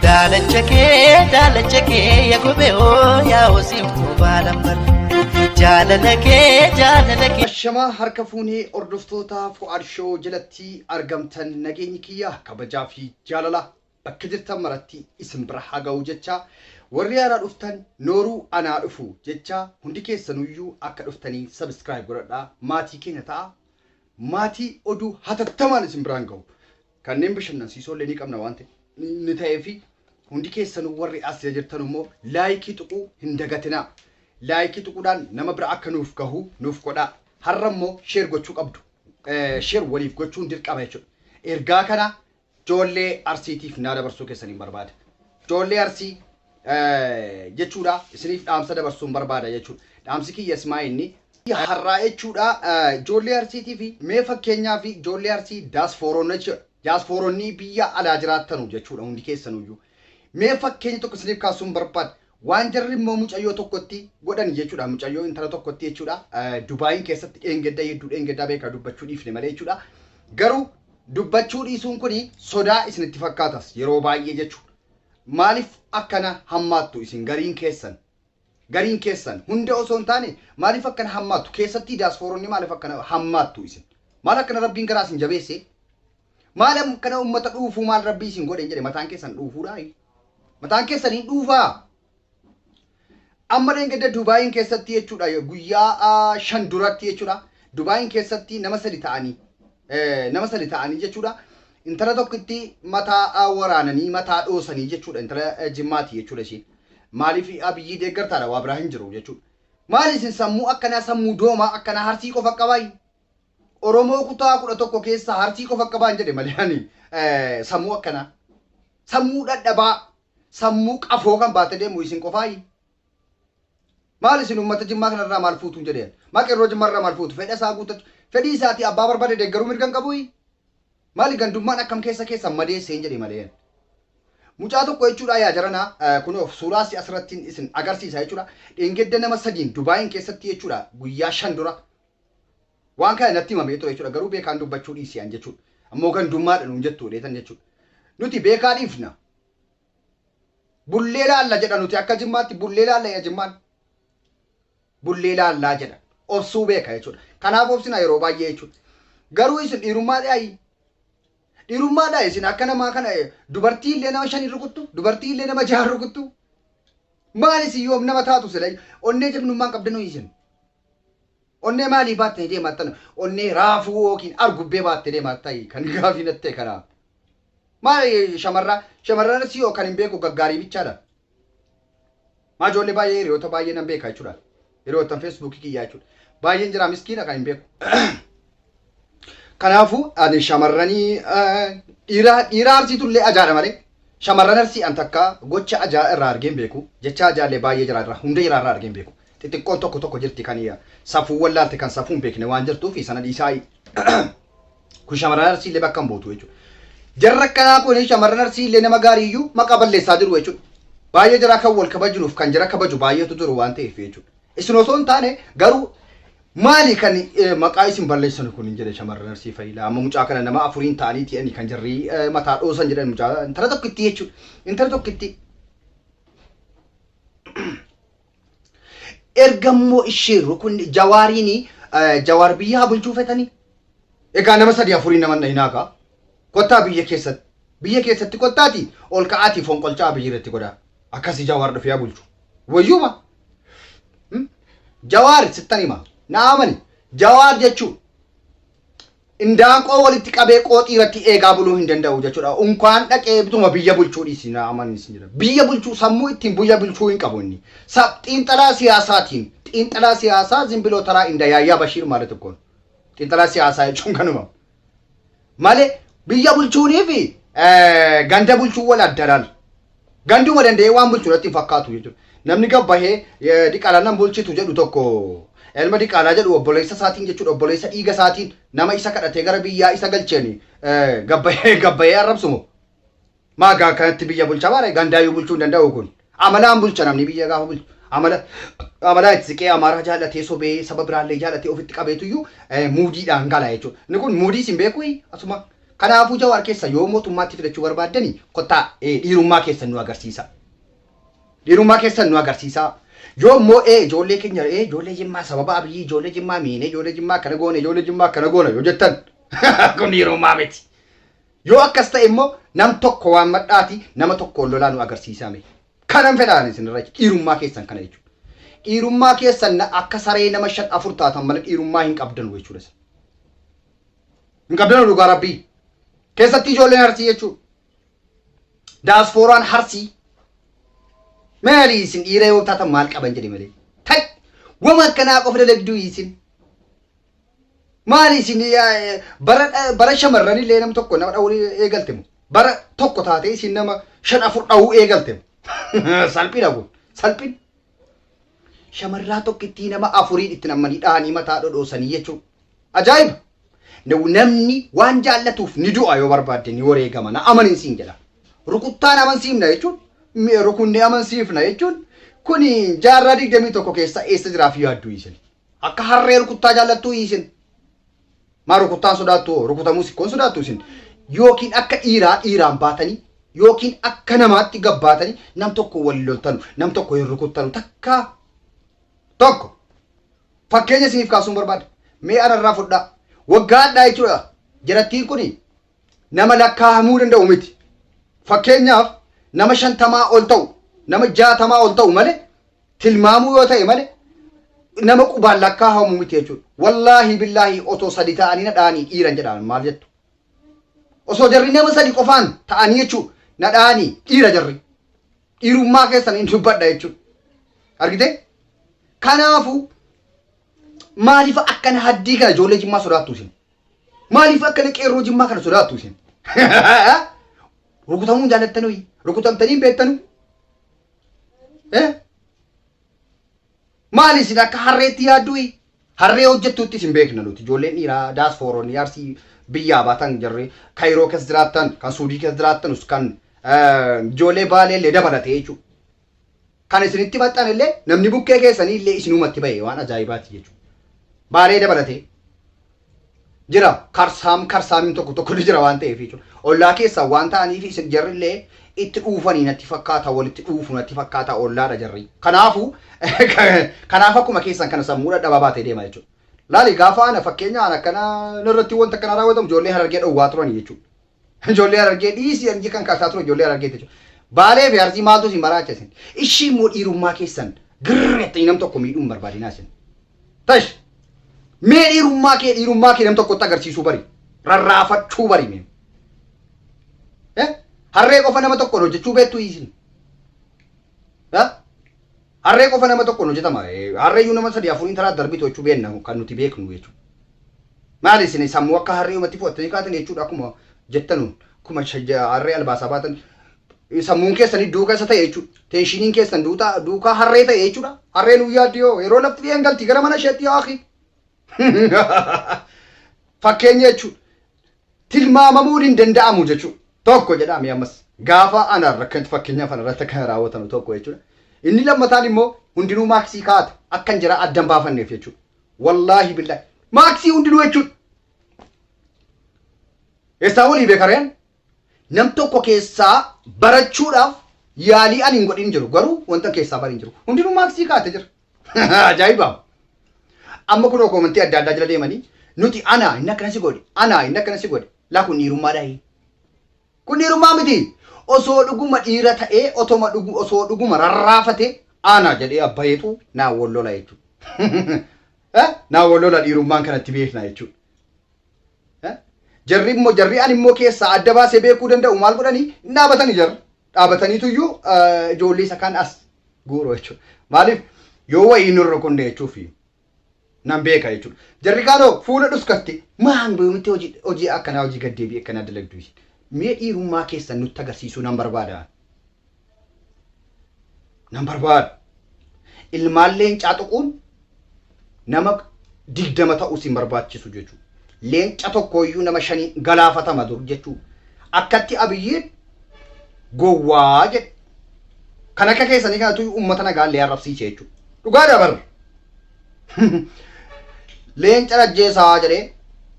Daalacha kee daalacha kee ya gube oo yaa osiin kubbaa lambar. Jaalala kee jaalala kee. Ashamaa harka fuunee hordoftoota Fu'aad Show jalatti argamtan nageenyi kiyya kabajaa fi jaalala bakka jirtan maratti isin bira haa ga'u jecha warri haaraa dhuftan nooruu anaa dhufu jecha hundi keessanuyyuu akka dhuftanii sabiskiraayib godhadhaa maatii keenya ta'a Maatii oduu hatattamaan isin biraan gahu kanneen bashannansiisoo illee ni qabna waan ta'ee fi hundi keessanuu warri as jirtan immoo laayikii tuquu hin dagatinaa. Laayikii tuquudhaan nama bira akka nuuf gahu nuuf godhaa. Har'a immoo sheer gochuu qabdu. Sheer waliif gochuun dirqama jechuudha. Ergaa kana Joollee Arsiitiif naa dabarsuu keessaniin barbaada. Joollee Arsii jechuudha isiniif dhaamsa dabarsuun barbaada jechuudha. Dhaamsi kiyya simaa inni har'aa jechuudha joollee Arsiitiif mee fakkeenyaa fi joollee Arsii daasfooronnii biyya alaa jiraattanu jechuudha hundi keessanuyyuu. Mee fakkeenya tokko isiniif kaasuun barbaada. Waan jarri immoo mucayyoo tokkotti godhan jechuudha. Mucayyoo intala tokkotti jechuudha. Dubaayiin keessatti dheengedda hedduu dheengeddaa beekaa dubbachuu dhiifne malee jechuudha. Garuu dubbachuu dhiisuun kun sodaa isinitti fakkaatas yeroo baay'ee jechuudha. Maaliif akkana hammaattu isin gariin keessan? Gariin keessan hunda osoo hin taane maaliif akkana hammaattu? Keessattii daasfooronni maaliif akkana hammaattu isin? Maal akkana rabbiin garaa isin jabeesse? Maal akkana uummata dhuufuu maal rabbii isin godhe hin jedhe mataan keessan dhuufuudhaa? Mataan keessan hin dhuufaa? Amma dheengadda Dubaayiin keessatti jechuudha guyyaa ah, shan duratti jechuudha Dubaayiin keessatti nama sadi ta'anii eh, nama sadi ta'anii jechuudha intala tokkitti mataa ah, waraananii mataa dhoosanii jechuudha intala eh, jimmaati jechuudha ishiin maaliif abiyyii deeggartaadha waa biraa hin jiru jechuudha maali isin sammuu akkanaa sammuu doomaa akkanaa harsii qofa qabaayyu Oromoo kutaa kudha tokko keessaa Harsii qofa akka ba'an jedhe malee ani sammuu akkanaa sammuu dhadhabaa sammuu qafoo kan baate deemu isin qofaayi. Maal isin uummata jimmaa kanarraa maal fuutuun jedheen maa qeerroo jimmaarraa maal fuutu fedha isaa guuttachu fedhii isaatii abbaa barbaade deeggaruu mirgan qabuyi. Maali gandummaan akkam keessa keessan madeesseen jedhe malee. Mucaa tokko jechuudha yaa jarana kunoof suuraa si asirrattiin isin agarsiisa jechuudha. Dheengadda nama sadiin Dubaayin keessatti jechuudha guyyaa shan dura Waan kana natti himamee ture jechuudha. Garuu beekaan dubbachuu dhiisi an jechuudha. Ammoo gandummaadha nuun jettu jedheetan jechuudha. Nuti beekaa dhiifna. Bullee laalla jedha nuti akka jimmaatti bullee laalla jedha jimmaan. Bullee laallaa jedha. Obsuu beeka jechuudha. Kanaaf obsina yeroo baay'ee jechuudha. Garuu isin dhiirummaa dhaayi. Dhiirummaa dhaayi isin akka namaa kana dubartii illee nama shanii rukuttu, dubartii illee nama jahan rukuttu. Maal isin yoom nama taatu sila onnee jagnummaan qabdanu isin. Onnee maalii baattani deemaattan onnee raafuu yookiin argubbee baatte deemaattayi kan gaafii natti ta'e kanaa. Maal shamarraa shamarran arsii hoo kan hin beeku gaggaarii bichaadha. Maa ijoollee baay'ee hiriyoota baay'ee nan beeka jechuudha. Hiriyoottan feesbuukii kiyyaa jechuudha. Baay'een jira miskiina kan hin beeku. Kanaafuu ani shamarranii dhiiraa dhiiraa arsiitu illee ajaadha malee shamarran arsii an takka gocha ajaa irraa argeen beeku jecha ajaa illee baay'ee jira irraa hunda jira irraa argeen beeku xixiqqoon tokko tokko jirti kan safuu wallaalte kan safuu hin beekne waan jirtuu fi sana dhiisaa kun shamarran arsii illee bakka hin buutu jechuudha. Jarra akkanaa kun shamarran arsii illee nama gaarii iyyuu maqaa balleessaa jiru jechuudha. Baay'ee jira kan wal kabajinuuf kan jira kabaju baay'eetu jiru waan ta'eef jechuudha. Isin osoo hin taane garuu Maali kan maqaa isin balleessanu kun hin jedhe shamarran arsii fayilaa amma mucaa kana nama afuriin ta'anii ti'anii kan jarrii mataa dhoosan jedhan mucaa intala tokkitti jechuudha intala tokkitti erga immoo ishee rukunni jawaariin jawaar biyya haa bulchuu fetanii egaa nama sadii afuriin nama na hinaakaa kottaa biyya keessatti biyya keessatti kottaati ol ka'aatii fonqolchaa biyya irratti godhaa akkasi jawaar dhufee haa bulchu wayyuuma Hmm? Jawaar sittan hima. Naa amani. Jawaar jechuun indaanqoo walitti qabee qooxii irratti eegaa buluu hin danda'u jechuudha. Unkaan dhaqee bituma biyya bulchuu dhiisi naa amani isin jedha. Biyya bulchuu sammuu ittiin biyya bulchuu hin qabu inni. Sa- Xiinxalaa siyaasaatiin xiinxalaa siyaasaa zimbiloo taraa inda yaayyaa Bashiir maala tokkoon. Xiinxalaa siyaasaa jechuun kanuma. malee biyya bulchuunii fi ganda bulchuun wal addaraan ganduma danda'ee waan bulchu natti hin fakkaatu jechuudha. Namni gabbahee diqaalaa nan bulchitu jedhu tokko elma diqaalaa jedhu obboleessa isaatiin jechuudha obboleessa dhiiga isaatiin nama isa kadhatee gara biyyaa isa galcheeni gabbahee gabbahee arrabsumo. Maa gaa akkanatti biyya bulcha baare gandaayyuu bulchuu hin danda'u kun. Amalaan bulcha namni biyya gaafa bulchu. Amala amalaa itti siqee amaaraa jaallatee sobee saba biraallee jaallatee ofitti qabeetuyyuu eh, muudiidhaan gala jechuudha. Inni kun muudii isin beekuu asuma. Kanaafuu jawaar keessa yoo mootummaatti fidachuu barbaaddani kottaa eh, dhiirummaa keessan nu agarsiisa. Dhiirummaa keessan nu agarsiisa. Yoo immoo ee ijoollee keenya ee ijoollee jimmaa sababa abiyyii ijoollee jimmaa miinee ijoollee jimmaa akkana goone ijoollee jimmaa akkana goona yoo jettan kun dhiirummaa miti. Yoo akkas ta'e immoo nam tokko waammadhaatii nama tokkoon lolaa nu agarsiisaa mee. Kanan fedha ani isinirraa jechuudha. Dhiirummaa keessan kana jechuudha. Dhiirummaa keessan akka saree nama shan afur taatan malee dhiirummaa hin qabdanu jechuudha isin. Hin qabdanu dhugaa rabbii. Keessatti ijoolleen harsii jechuudha. Daasfooraan harsii. Maali isin dhiira yoo taatan maal qaban jedhe malee. Tai! Wama akkanaa qofa dalagduu isin. Maali isin bara shamarran illee nam tokko nama dha'uu eegalte moo? Bara tokko taatee isin nama shan afur dha'uu eegalte moo? Salphina kun salphina. Shamarraa tokkittii nama afuriin itti nammanii dhahanii mataa dhodhoosanii jechuudha. Ajaa'iba! Namni waan jaallatuuf ni du'a yoo barbaadde ni wareegama na amanin siin jedha. Rukuttaan amansiifna jechuun rukunnee amansiifna jechuun kun jaarraa digdamii tokko keessa eessa jiraaf yaaddu isin. Akka harree rukuttaa jaallattuu isin. Maa rukuttaan sodaattu hoo? Rukutamuus ikkoon sodaattu isin. Yookiin akka dhiiraa dhiiraan baatanii yookiin akka namaatti gabbaatanii nam tokko wal loltanu nam tokko hin rukuttanu takkaa tokko fakkeenya isiniif kaasuun barbaada. Mee anarraa fudhaa. Waggaa hadhaa jechuudha. Jarattiin kuni nama lakkaahamuu danda'u miti. Fakkeenyaaf nama shantamaa ol ta'u, nama jaatamaa ol ta'u malee tilmaamuu yoo ta'e malee nama qubaan lakkaahamu miti jechuudha. Wallaahi billaahi otoo sadi ta'anii na dha'anii dhiiran jedhaan maal jettu? Osoo jarri nama sadi qofaan ta'anii jechuudha na dha'anii dhiira jarri. Dhiirummaa keessan hin dubbadha jechuudha. Argitee? Kanaafuu maaliif akkana haddii kana ijoollee jimmaa sodaattu isin? Maaliif akkana qeerroo jimmaa kana sodaattu isin? Rukutamuun jaalattanuu rukutamtanii beektanu? Eh? Maali isin akka harreetti yaadduu? Harree hojjettuutti isin beekna nuti ijoolleen dhiiraa daasfooroon yaarsii biyyaa baatan jarri Kaayiroo keessa jiraattan kan Suudii keessa jiraattanus kan eh, ijoollee baalee illee dabalatee jechuudha. kan isinitti maxxane illee namni bukkee keessanii illee isinumatti ba'e waan ajaa'ibaati jechuudha. Baalee dabalatee jira karsaam karsaamiin tokko tokko ni jira waan ta'eef jechuudha. Ollaa keessaa waan ta'aniif isin jarri illee itti dhuufanii natti fakkaata walitti dhuufu natti fakkaata ollaadha jarri. Kanaafu kanaaf akkuma keessan kana sammuu dhadhabaa baatee deema jechuudha. Laali gaafa ana fakkeenya ana akkana narratti wanta akkana raawwatamu ijoollee harargee dhowwaa turanii jechuudha. Ijoollee Harargee dhiisii anji kan kaasaa ture ijoollee Harargee jechuudha. Baalee fi Arsii maaltu isin maraacha isin? Ishii immoo dhiirummaa keessan girreettanii nam tokko miidhuun barbaadinaa isin. Tash! Mee dhiirummaa kee dhiirummaa kee nam tokkotti agarsiisuu bari. Rarraafachuu bari mee. Eh? Harree qofa nama tokkoon hojjechuu beektu isin. Eh? Harree qofa nama tokkoon hojjetama. Harreeyyuu nama sadii afuriin taraa darbitu jechuu beenna kan nuti beeknu jechuu. Maali isin sammuu akka harree humatti fudhattanii kaatan jechuudha akkuma jettanuun akkuma harree albaasaa baatan sammuun keessanii duuka isa ta'e jechuudha. Teenshiiniin keessan duutaa duukaa harree ta'e jechuudha. Harreen guyyaa dhiyoo yeroo lafti dhiyeen galti gara mana isheetti yaa akhi. Fakkeenya jechuudha. tilmaamamuun hin danda'amu jechuudha. Tokko jedhaa mee ammas gaafa anaan rakkantu fakkeenyaaf ana irratti akka raawwatanu tokko jechuudha. Inni lammataan immoo hundinuu maaksii kaa'ata akka hin jira addan baafanneef jechuudha. Wallaahi billaahi maaksii hundinuu jechuudha. Eessaa walii beekareen nam tokko keessaa barachuudhaaf yaalii ani hin godhin jiru garuu wanta keessaa bari hin jiru. Hundinuu maaksii kaa'ate jira. Ajaa'iba! Amma kunoo koomantii adda addaa jala deemanii nuti anaa inni akkana si godhe anaa inni akkana si godhe laa kun dhiirummaa dhahi. Kun dhiirummaa miti. Osoo dhuguma dhiira ta'ee otoma dhugu osoo dhuguma rarraafate ana jedhee abbayeetu naa wollola jechuudha. Naa wollola dhiirummaan kanatti beekna jechuudha. Jarri immoo jarri ani immoo keessaa adda baasee beekuu danda'u maal godhanii hin dhaabatani jarri. dhaabataniitu iyyuu ijoollee isa kan as guuru jechuudha. Maaliif yoo wayii hin rukunne jechuufi nan beeka jechuudha. Jarri kaanoo fuula dhuskatte maan boomitti hojii hojii akkanaa hojii gaddeebii akkanaa dalagdu mee dhiirummaa keessan nutti agarsiisuu nan barbaada. nan barbaadu. Ilmaan leencaa tuquun nama digdama ta'uu sin barbaachisu jechuudha. Leenca tokkooyyuu nama shanii galaafatama dur jechuudha. Akkatti abiyyiin gowwaa jedhe. Kan akka keessanii kanatu uummata nagaa illee arrabsiise jechuudha. Dhugaa dabarra. leencan ajjeesaa jedhee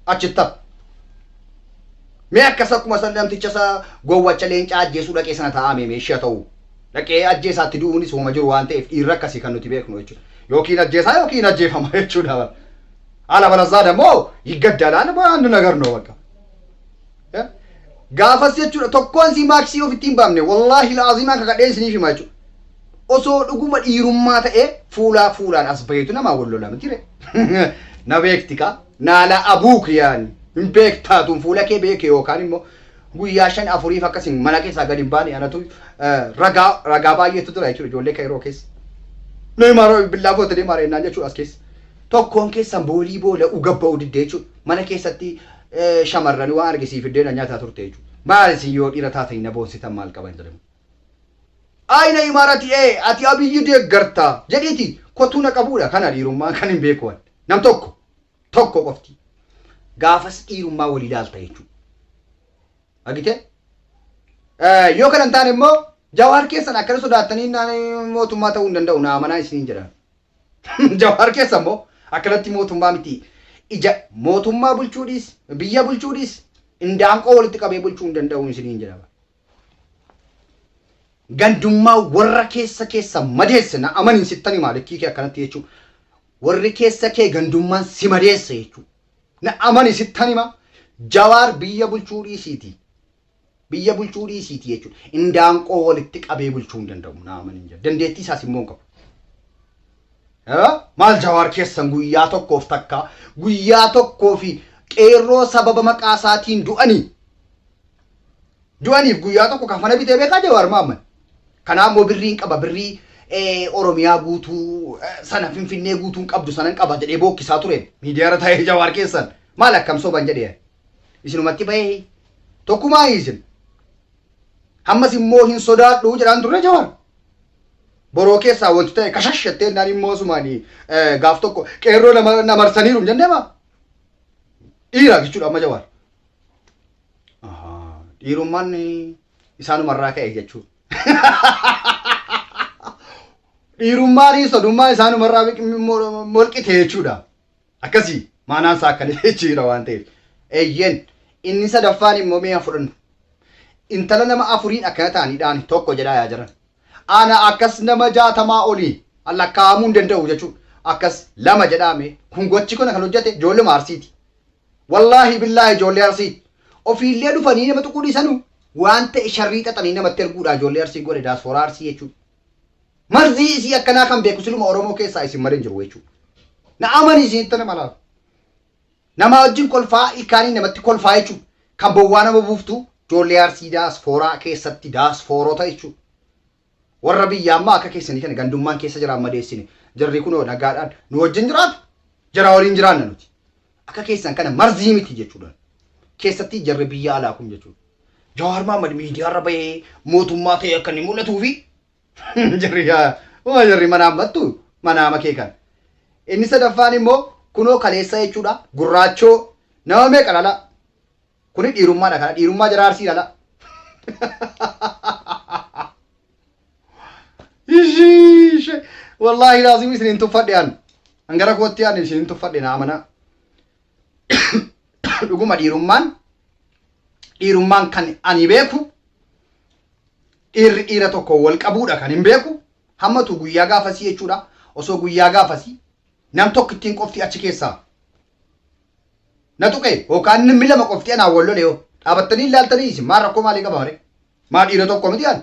achitti hafe. Mee akkas akkuma san namticha isa gowwacha leencaa ajjeesuu dhaqee sana ta'aa mee meeshii haa ta'uu. Dhaqee ajjeesaatti du'uunis hooma jiru waan ta'eef dhiirri akkasii kan nuti beeknu jechuudha. Yookiin ajjeesaa yookiin ajjeefama jechuudha bara. Alabalazzaa dammoo yiggaddalaan waan nu nagarnu bakka. gaafas jechuudha tokkoon sii maaksii of ittiin baamne wallaahi laazimaa kakadheen isiniif himaa jechuudha. Osoo dhuguma dhiirummaa ta'ee fuulaa fuulaan as baheetu namaa wal lola miti ree. Na beekti kaa naala abuuk yaani hin beektaatuun fuula kee beeke yookaan immoo guyyaa shan afuriif akkasiin mana keessaa gadi hin baane anatu ragaa ragaa baay'eetu jira jechuudha ijoollee kairoo keessa. Mee maaroo billaa footanii maaree naan jechuudha as keessa. Tokkoon keessan boolii boola ugabba'u diddee jechuudha mana keessatti shamarrani waan arge sii fiddee na nyataa turte jechu maal isin yoo dhira taatani na boonsitan maal qaban jedhame ayina imaarati ee ati abiyyi deeggarta jedhiiti kotuu na qabuudha kana dhiirummaan kan hin beeku wan nam tokko tokko qofti gaafas dhiirummaa walii laalta jechuu agite yoo kana hin taane immoo jawaar keessan akkana sodaattanii naan mootummaa ta'uu hin danda'u naa amanaa isiniin jedhan Jawaar keessa immoo akkanatti mootummaa miti ija mootummaa bulchuu dhiis biyya bulchuu dhiis indaanqoo walitti qabee bulchuu hin danda'u isiniin jedhama. Gandummaa warra keessa keessa madeesse na amaniin sittan himaa likkii kee akkanatti jechuun warri keessa kee gandummaan si madeesse jechuun na amani sittan himaa jawaar biyya bulchuu dhiisiiti Biyya bulchuu dhiisiitii jechuudha. Indaanqoo walitti qabee bulchuu hin danda'u naaman hin jedhu. Dandeettii isaas immoo hin qabu. Maal jawaar keessan guyyaa tokkoof takka guyyaa tokkoo fi qeerroo sababa maqaa isaatiin du'anii du'aniif guyyaa tokko kafana bitee beekaa jawaar maamman. Kanaaf immoo birriin qaba birrii Oromiyaa guutuu sana Finfinnee guutuun qabdu sanan qaba jedhee bookkisaa ture miidiyaarra taa'ee jawaar keessan maal akkam soban jedhee isinumatti bahee Tokkumaa hiisin. Hammas immoo hin sodaadhu jedhaan turre Jawaar. Boroo keessaa wanti ta'e kashash jettee naan immoo sumaanii gaaf tokko qeerroo nama na marsaniiru hin jennee baa. Dhiira jechuudha amma Jawaar. Ahaa, Dhiirummaan isaanumarraa ka'e jechuudha. Dhiirummaan sodummaa isaanumarraa molqite jechuudha. Akkasii maanaan isaa akkana jechuudha waan ta'eef. Eeyyeen inni sadaffaan immoo mee haa fudhannu. Intala nama afuriin akkana ta'anii dhaani tokko jedhaa yaa jiran. Ana akkas nama jaatamaa olii lakkaa'amuu hin danda'u jechuudha. Akkas lama jedhaa mee kun gochi kun kan hojjete ijoolluma arsiiti. Wallaahi billaahi ijoollee arsiiti. Ofiillee dhufanii nama tuquu dhiisanu waan ta'e sharrii xaxanii namatti erguudha ijoollee arsii godhe daasfooraa arsii jechuudha. Marzii isii akkanaa kan beeku siluma Oromoo keessaa isin malee hin jiru jechuu. Na amani isin ittana malaaf. Namaa wajjin kolfaa ilkaanii namatti kolfaa jechuu. Kan bowwaa nama buuftu joollee arsii daasfooraa keessatti daasfoorota jechuu. Warra biyya ammaa akka keessanii kana gandummaan keessa jiraan madeessine. Jarri kunoo nagaadhaan nu wajjin jiraatu. Jara waliin jiraanna nuti. Akka keessan kana marzii miti jechuudha. Keessatti jarri biyya alaa kun jechuudha. Jawaar Mahaammad miidiyaarra bahee mootummaa ta'e akka inni mul'atuu fi Jarri yaa- waa jarri mana hammattu mana hama kee kan. Inni sadaffaan immoo kunoo kaleessa jechuudha gurraachoo nama meeqa lala. Kuni dhiirummaadha kana dhiirummaa jara arsii lala. Ishii wallaahi laazim isin hin tuffadhe an. An gara kootti an isin hin tuffadhe na amanaa. dhuguma dhiirummaan dhiirummaan kan ani beeku dhiirri dhiira tokko wal qabuudha kan hin beeku hammatu guyyaa gaafasii jechuudha osoo guyyaa gaafasii nam tokko ittiin qofti achi keessaa na tuqe yookaan namni lama qofti anaa wal lole yoo dhaabattanii ilaaltanii isin maa rakkoo maalii qaba mare maa dhiira tokko miti an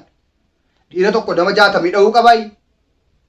dhiira tokko nama jaatamii dha'uu qabaayii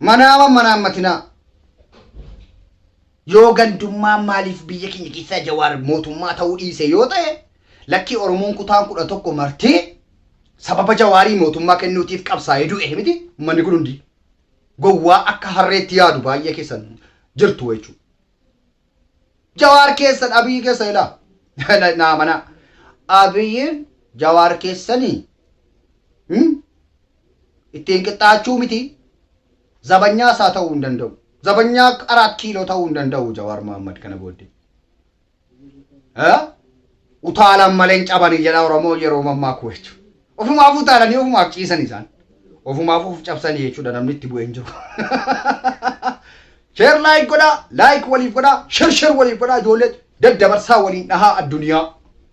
Manaama manaammatinaa. Yoo gandummaan maaliif biyya keenya keessaa Jawaar mootummaa ta'uu dhiise yoo ta'e lakkii Oromoon kutaan kudha tokko marti sababa Jawaarii mootummaa kennuutiif qabsaa'ee du'e miti uummanni kun hundi gowwaa akka harreetti yaadu baay'ee keessan jirtu jechuudha. Jawaar keessan Abiyyi keessa ilaa. Naa manaa. Abiyyiin Jawaar keessanii. Hmm? Ittiin qixxaachuu miti. Zabanyaa isaa ta'uu hin danda'u. Zabanyaa araat kiiloo ta'uu hin danda'u Jawaar Mohaammed kana booddee. Eh? Utaalan malee hin cabani jedha Oromoo yeroo mammaaku jechu. Ofumaaf utaalanii ofumaaf ciisan isaan. Ofumaaf of cabsani jechuudha namni itti bu'ee hin jiru. Sheer laayik godhaa, laayik waliif godhaa, sher sher waliif godhaa ijoollee daddabarsaa waliin dhahaa addunyaa.